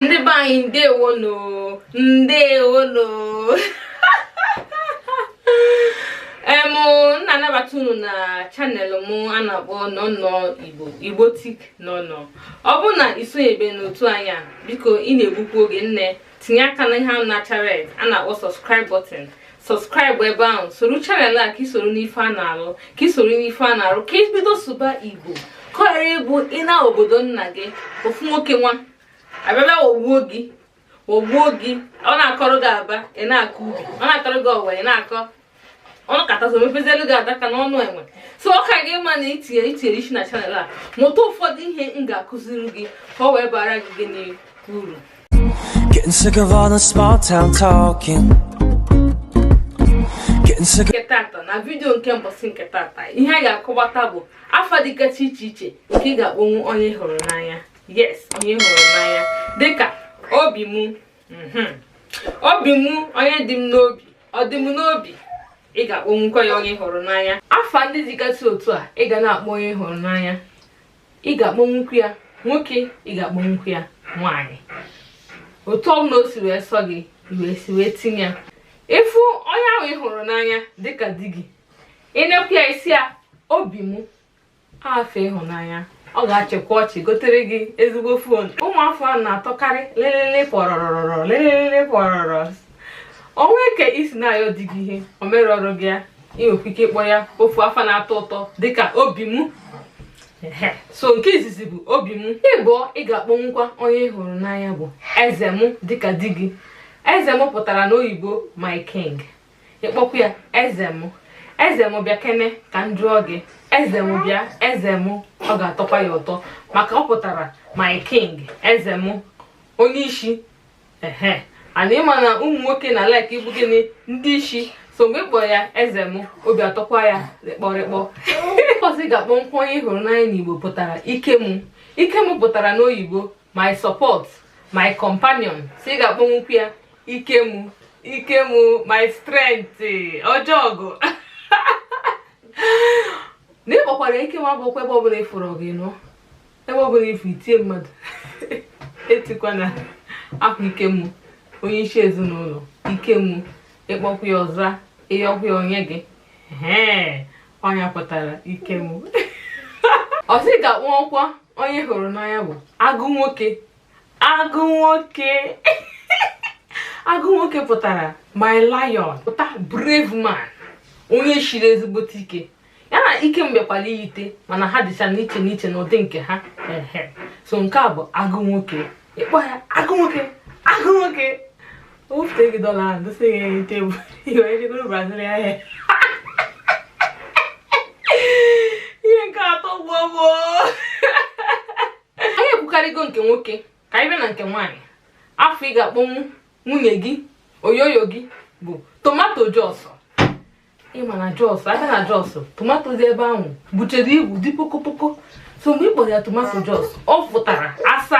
ndị be anyị ndewonu ndewonu em m na-anabata unu na channel m a na-akpọ nọnọ igbo igbotic nọnọ ọ bụ na i sonyebe n'otu anyị a biko ị na-egbukwu oge nne tinye aka na ihe ahụ na-acha red a na-akpọ subscribe button subscribe ebe ahụ soro channel a ka i soro n'ife a na-alụ ka i soro n'ife a na-arụ ka i bido sụba igbo ka ọ ghara ịbụ ị naa obodo nna gị ofu nwoke nwa abịa bịa wogbuo gị wogbuo gị ọ na-akọrọ gị aba ị na-akọ ubi ọ na-akọrọ gị ọwa ị na-akọ ọnụ katazo mepezelu gị adaka n'ọnụ enwe so ọ ka gị ma na i tinye i tinyere isi na channel a mụta ụfọdụ ihe m ga-akụziri gị ka ọ wee bara gị n'uru nke tata na vidiyo nke mbọsị nke tata ihe a ga-akọwata bụ afa dịgasị iche iche nke ị ga-akpọnwu onye ị hụrụ n'anya yes onye ị hụrụ n'anya dịka obi mụ mhm. obi mụ onye dị m n'obi ọ dị m n'obi ị ga-akpọnwukwa ya onye ị hụrụ n'anya afa ndị dịgasị otu a ị ga na-akpọ onye ị hụrụ n'anya ị ga-akpọnwukwu ya nwoke ị ga-akpọnwukwu ya nwaanyị otu ọbụla o si wee sọ gị wee si wee tinye ya ị fụ onye ahụ ị hụrụ n'anya dịka di gị ị nekwu ya ị sị ya obi mụ afa ịhụnanya ọ ga-achịkwa ọchị gotere gị ezigbo phone ụmụ afa ahụ na-atọkarị lelele pọrọrọrọ lelele pọrọrọ o nwe ka i si na-ayọ di gị ihe o mererọ gị ya i nwekwa ike ịkpọ ya ofu afa na-atọ ụtọ dịka obi m so nke izizi bụ obi m ịbụọ ị ga-akpọnwukwa onye ị hụrụ n'anya bụ eze m dịka di gị eze m pụtara n'oyibo my king ị kpọkwa ya eze m eze m bịa kene ka m jụọ gị eze m bịa eze m ọ ga-atọkwa ya ụtọ maka ọ pụtara my king eze m onye isi ehe and ị ma na ụmụ nwoke na-like ịbụ gịnị ndị isi so mgbe ị kpọrọ ya eze m obi atọkwa ya rịkpọrịkpọ ọzọ ị ga-akpọnwukwu onye ị hụrụ n'anya n'igbo pụtara ike m ike m pụtara n'oyibo my support my companion so ị ga-akpọnwukwu ya ike mụ ike mụ my strength ọjọọgụ na ị kpọkwara ike m abụkwa ebe ọbụla ị fụrụ gị nọ ebe ọbụla ị fụ itie mmadụ etikwa na akwa ike mụ onye isi ezinụlọ ike mụ ị kpọkwa ya ọ za ị yọkwa ya o nye gị ọ nya pụtara ike m ọzọ ị ga-akpọkwa onye ị hụrụ n'anya bụ agụ nwoke agụ nwoke agụ nwoke pụtara my lion pụta brave man onye shiri ezigbote ike ya na ike m bịakwara iyite mana ha dịcha n'iche n'iche n'ụdị nke ha so nke a bụ agụ nwoke ịkpọ ya agụ nwoke agụ nwoke O bute gị dọla ahụ dosa ya enu tebụl iwe ejegoro Brazil ahịa ihe nke atọ gbuo gbuo anyị ekwukarịgo nke nwoke ka anyị bịa na nke nwaanyị afa ị ga-akpọnwu nwunye gị oyoyo gị bụ tomato jos ị ma na jos a gaa na jos tomato dị ebe ahụ buchere ibu dị pokopoko so mgbe ị kpọrọ ya tomato jos ọ pụtara asa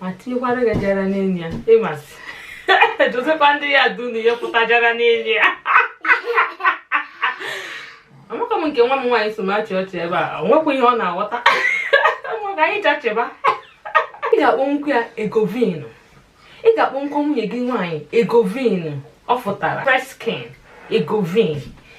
ma tinyekwara gị jara n'enu ya ịmasị dotekwa ndị ya du na ihe pụta jara n'enu ya amaka m nke nwa m nwaanyị so m achị ọchị ebe a o nwekwa ihe ọ na-aghọta maka anyị jachịba ị ga-akpọnwukwu ya egovinu ị ga-akpọnwukwu nwunye gị nwaanyị egovinu ọ fụtara fresh skin egovin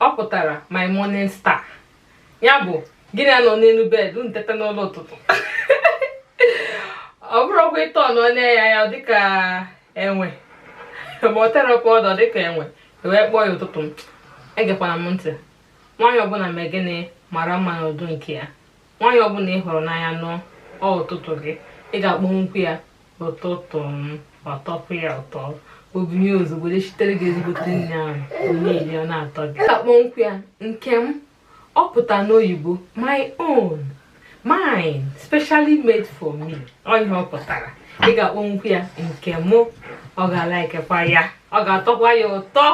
ọ pụtara my morning star ya bụ gị na ya nọ n'elu bed unu teta n'ụla ụtụtụ ọ bụrụkwa etu ọ nọ ya dịka enwe ma ọ tetapụ ọ dịka enwe wee kpọọ ya ụtụtụ m egekwana m ntị nwaanyị ọbụla mee gịnị mara mma n'ụdị nke ya nwaanyị ọbụla ị hụrụ n'anya nụọ ọ ụtụtụ gị ị ga-akpọnwukwu ya ụtụtụ m ọ tọpụ ya ụtọ o binye ozugbo shitere gị ezigbote nri ahụ ị na-eri ọ na-atọ gị ị ga-akpọnwukwu ya nke m ọ pụta n'oyibo my own mine specially made for me ọ ihe ọ pụtara ị ga-akpọnwukwu ya nke mụ ọ ga-alikekwa ya ọ ga-atọkwa ya ụtọ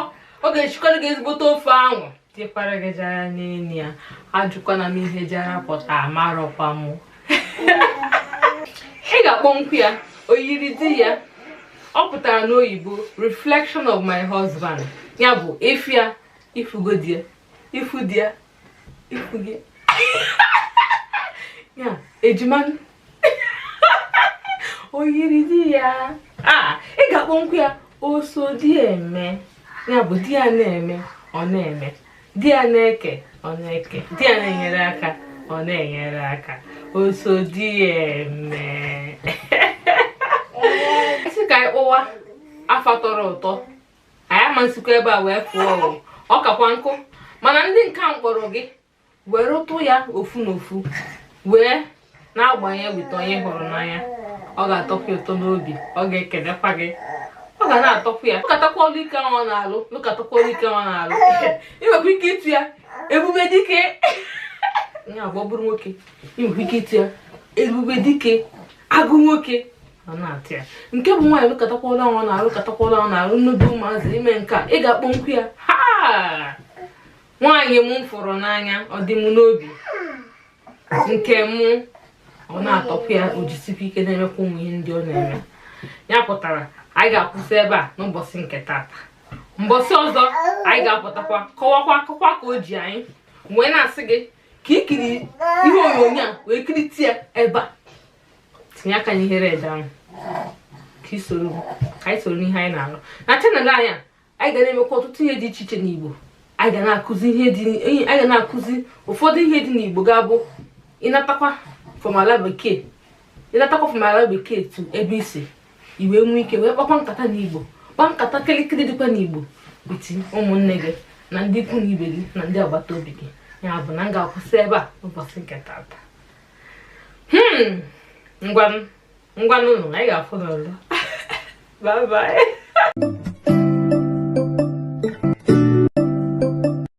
ọ ga-eshikwara gị ezigbote ofe ahụ tikwara gị jara n'elu ya ajụkwana m ihe jara pụta amarọkwa m ị ga-akpọnwukwu ya oyiri di ya ọ pụtara n'oyibo reflection of my husband ya bụ ị fụ ya ị fụgo di ya ị fụ di ya ị fụgo ya ejima oyiri di ya ị ga-akpọnwukwu ya oso di eme ya bụ di ya na-eme ọ na-eme di ya na-eke ọ na-eke di ya na-enyere aka ọ na-enyere aka oso di eme ị sị ka anyị kpọwa afa tọrọ ụtọ anyị ama esikwa ebe a wee fụọ ọ kakwa nkụ mana ndị nke a m kpọrọ gị were ụtụ ya ofu na ofu wee na-agbanye weta onye ị hụrụ n'anya ọ ga-atọkwa ụtọ n'obi ọ ga-ekelekwa gị ọ ga na-atọkwa ya lụkatakwa ọlụ ike ahụ ọ na-alụ lụkatakwa ọlụ ike ahụ ọ na-alụ ị nwekwa ike ịtụ ya ebube dike ya bụ ọ bụrụ nwoke ị nwekwa ike ịtụ ya ebube dike agụ nwoke ọ na-atọ ya nke bụ nwaanyị lụkatakwa ọlụ ahụ ọ na-alụ lụkatakwa ọlụ ahụ ọ na-alụ nnudu ụmụazị ime nke a ị ga-akpọkwu ya aha nwaanyị m fụrụ n'anya ọ dị m n'obi nke mụ ọ na-atọkwa ya o jisikwa ike na-emekwa ụmụ ihe ndị ọ na-eme ya pụtara anyị ga-akwụsị ebe a n'ụbọchị nke tata mbọsị ọzọ anyị ga-apụtakwa kọwakwa akụkọ ka o ji anyị wee na-asị gị ka i kiri ihe onyonyo a wee kirite ya ebe a tinye aka n'ihe red ahụ ka i soro ka anyị soro n'ihe anyị na-alụ na channel anyị a anyị ga na-emekwa ọtụtụ ihe dị iche iche n'Igbo anyị ga na-akụzi ihe dị anyị ga na-akụzi ụfọdụ ihe dị n'Igbo ga-abụ ị natakwa from ala bekee ị natakwa from ala bekee to ebe i si i wee nwee ike wee kpakwa nkata n'Igbo kpaa nkata kịrịkịrị dịkwa n'Igbo with ụmụnne gị na ndị ikwu na ibe gị na ndị agbata obi gị ya bụ na m ga-akwụsị ebe a n'ụbọchị nke tata hmm ngwanụ ngwanụ anyị ga-afụnụ ọzọ bye bye